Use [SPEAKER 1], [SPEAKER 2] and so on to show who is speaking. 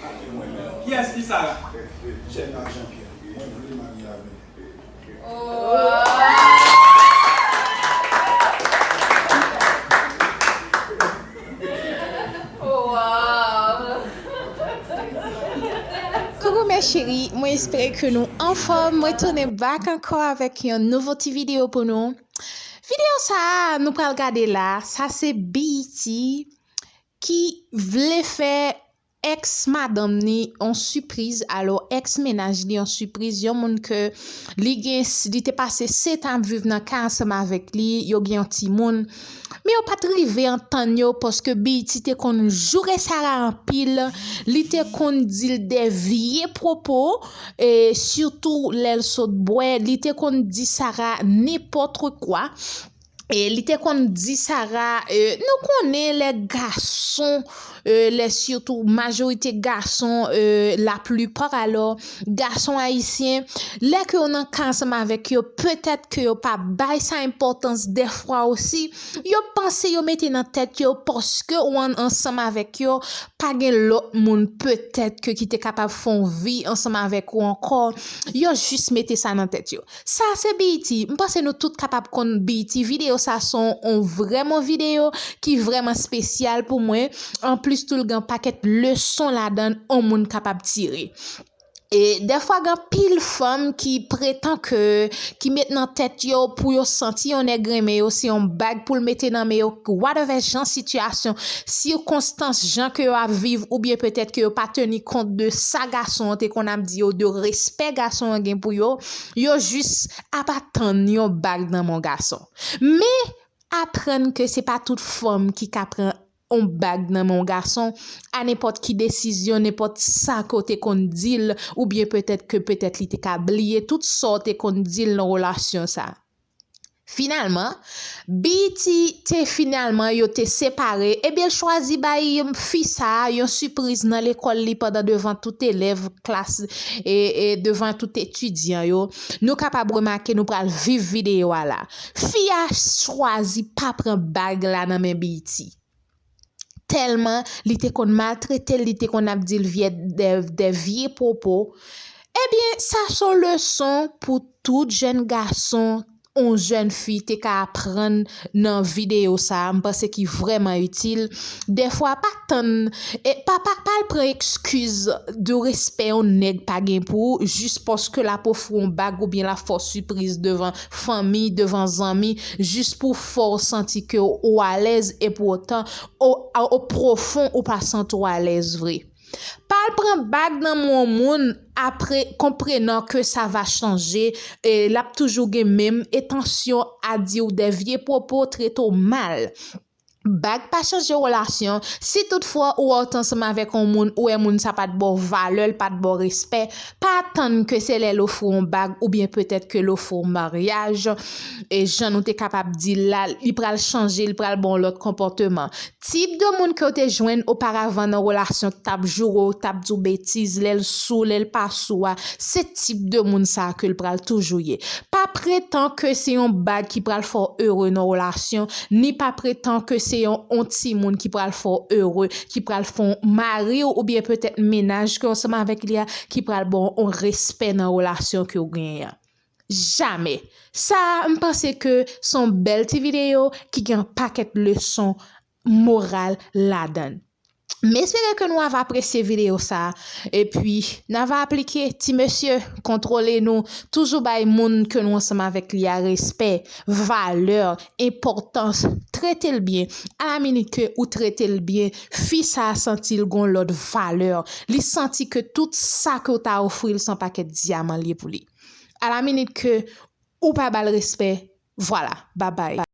[SPEAKER 1] Ade mwen menm. Kiyes
[SPEAKER 2] ki Sara? Jenna Jean Pierre
[SPEAKER 3] mwen vle marye avèl. Coucou mes cheries mwen espere ke nou anfòm mwen tounen back ankò avèk yon nouvo ti video pou nou video sa nou pral gade la sa se BET ki vle fè ex madanm ni yon sipriz alò ex mennaj li yon sipriz yon moun ke li gen li te pase 7 an ap viv nan kay ansanm avèk li yo gen yon timoun men yo pat rive antann yo paske BET te konn joure Sarah anpil li te konn dil de vye pwopo e sitou lèl sot bwè li te konn di Sarah nenpòtre kwa. e li te konn di Sara, nou konnen lè gason, lè sitou majorite gason, la plupart alò, gason ayisyen, lè ke yo nan ka ansanm avèk yo, petèt ke yo pa bay sa enpòtans dèfwa osi, yo panse yo mete nan tèt yo paske ou an ansanm avèk yo, pa gen lòt moun petèt ke ki te kapab fè yon vi ansanm avèk ou ankò, yo jis mete sa nan tèt yo. Sa a se BET, m panse nou tout kapab konn BET, videyo sa a son on vrèman videyo ki vrèman spesyal pou mwen, anplis tou l gen on pakèt leson ladann on moun kapab tire. E dèfwa gen anpil fanm ki pretan ke, ki met nan tèt yo pou yo santi on nèg renmen yo se on bag pou l mete nan men yo wadèvè jan sitiyasyon, sikonstans jan ke yo ap viv oubyen petèt ke yo pa teni kont de sa gason an te konn ap di yo, de respè gason an gen pou yo. yo jis ap atann yon bag nan men w gason. Men, aprann ke se pa tout fanm ki ka pran yon bag nan men w gason a nenpòt ki desizyon, nenpòt sa ke w te konn di l oubyen petèt ke petèt li te ka bliye tout sa w te konn di l nan relasyon sa. Finalman, BET te finalman yo te separe ebyen l chwazi bay fi sa yon sipriz nan lekòl li pandan devan tout elèv klas e devan tout etidyan yo nou kapab remake nou pral viv videyo a la fi a chwazi pa pran bag la nan men BET. tèlman li te konn maltretel li te konn ap dil vyè dè vye pwopo ebyen sa son leson pou tout jèn gason ou jèn fi te ka aprann nan videyo sa mpase ki vrèman itil dèfwa pa tann pa pal pran ekskiz de respè yon nèg pa gen pou jis paske lap ofri yon bag oubyen lap fè w sipriz devan fanmi, devan zanmi, jis pou fè w santi ke ou alèz epoutan o pwofon ou pa santi w alèz vre. Pa al pran bag nan men yon moun apre konprenan ke sa va chanje e l ap toujou gen menm etansyon a di w de vye pwopo, trete w mal. Bag pa chanje relasyon, si tout fwa ou wè w t ansanm avèk on moun ou wè moun sa pat ba w valè, l pat ba w respè, pa atann ke se lè l ofri w on bag oubyen petèt ke l ofri w maryaj, jan nou te kapab di l la, li pral chanje, li pral ba w on lòt konpòteman. Tip de moun ke w te jwenn oparavan nan relasyon k tap joure w, k tap di w betiz, lè l sou, lè l pa sou a, se tip de moun sa ke l pral toujou ye. Pa pretan ke se yon bag ki pral fè w ere nan w relasyon, ni pa pretan ke se yon on ti moun ki pral fè w ere, ki pral fè w mari w oubyen petèt mennaj ke w ansanm avèk li a ki pral ba w on respè nan relasyon ke w genyen an. Jamè! Sa a m panse ke se yon bèl ti videyo ki gen an pakèt leson moral ladan l. M espere ke nou ava apresye video sa epi n ava aplike ti mesye kontwole nou toujou bay moun ke nou ansanm avèk li a respè, valè, enpòtans, trete l byen ala minit ke ou trete l byen fi sa santi l gon lòt valè li santi ke tout sa ke w ta ofri l se yon pakèt dyaman l ye pou li ala minit ke ou pa ba l respè vwala babay.